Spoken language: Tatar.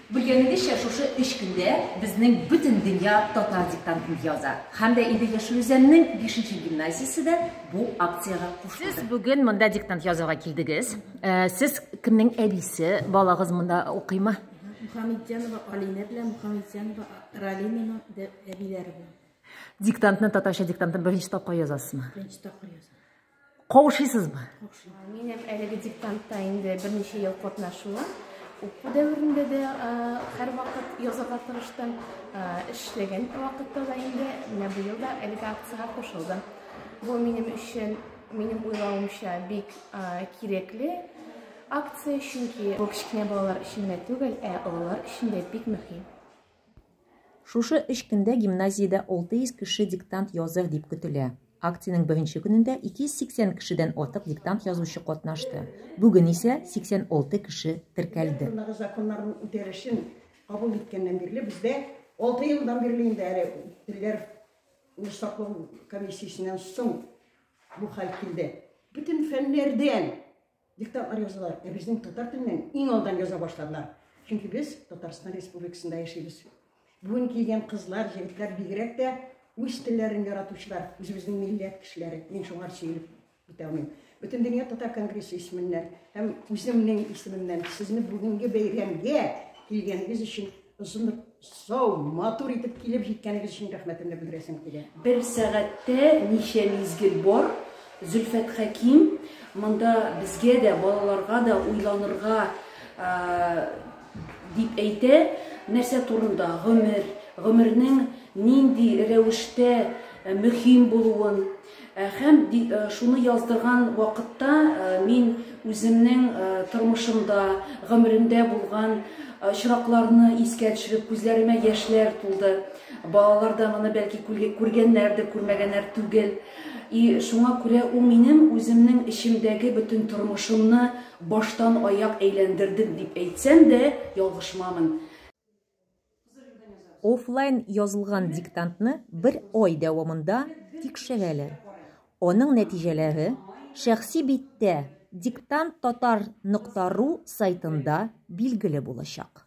Белгәнегезчә, шушы өч көндә безнең бөтен дөнья татар диктантын яза. Һәм дә инде Яшел Үзәннең бишенче гимназиясе дә бу акциягә кушылды. Сез бүген монда диктант язуга килдегез. Э, сез кемнең әбисе? Балагыз монда укыймы? Мухаммедянова Алинә белән Мухаммедянова Ралимина әбиләре белән. Диктантны татарча диктантны беренче тапкыр язасызмы? Беренче тапкыр язам. Кавышыйсызмы? Мин һәм әлеге диктантта инде берничә ел катнашуым. Уку дәверендә дә һәрвакыт язарга тырыштым. Эшләгән вакытта да инде менә быел да әлеге акциягә кушылдым. Бу минем өчен, минем уйлавымча, бик кирәкле акция, чөнки бу кечкенә балалар өчен генә түгел, ә олылар өчен дә бик мөһим. Шушы өч көндә гимназиядә 600 кеше диктант языр дип көтелә. Акциянең беренче көнендә 280 кешедән артык диктант язучы катнашты. Бүген исә 86 кеше теркәлде. Татарстандагы законнарның үтәлешен кабул иткәннән бирле бездә алты елдан бирле инде әле телләр ны саклау комиссиясеннән соң бу хәл килде. Бөтен фәннәрдән Диктантлар язалар, ә безнең татар теленнән иң алдан яза башладылар. Чөнки без Татарстан Республикасында яшибез. Бүген килгән кызлар, егетләр бигрәк тә үз телләрен яратучылар, үзебезнең милләт кешеләре. Мин шуңар сөйлеп бетә алмыйм. Бөтен дөнья татар конгрессы исеменнән һәм үземнең исемемнән сезне бүгенге бәйрәмгә килгәнегез өчен Шундый сау, матур итеп килеп җиткәнегез өчен рәхмәтемне белдерәсем килә. Бер сәгатьтә ничә мизгел бар? Зөлфәт Хәким, монда безгә дә, балаларга да уйланырга дип әйтә, нәрсә турында гомер, гомернең нинди рәвештә мөһим булуын, Һәм шуны яздырган вакытта мин үземнең тормышымда, гомеремдә булган очракларны искә төшереп, күзләремә яшьләр тулды. Балалар да моны бәлки күргәннәрдер, күрмәгәннәр түгел. И шуңа күрә ул минем үземнең эчемдәге бөтен тормышымны баштан аяк әйләндерде дип әйтсәм дә, ялгышмамын. Офлайн язылган диктантны бер ай дәвамында тикшерәләр. Аның нәтиҗәләре шәхси биттә diktanttatar.ru сайтында билгеле булачак.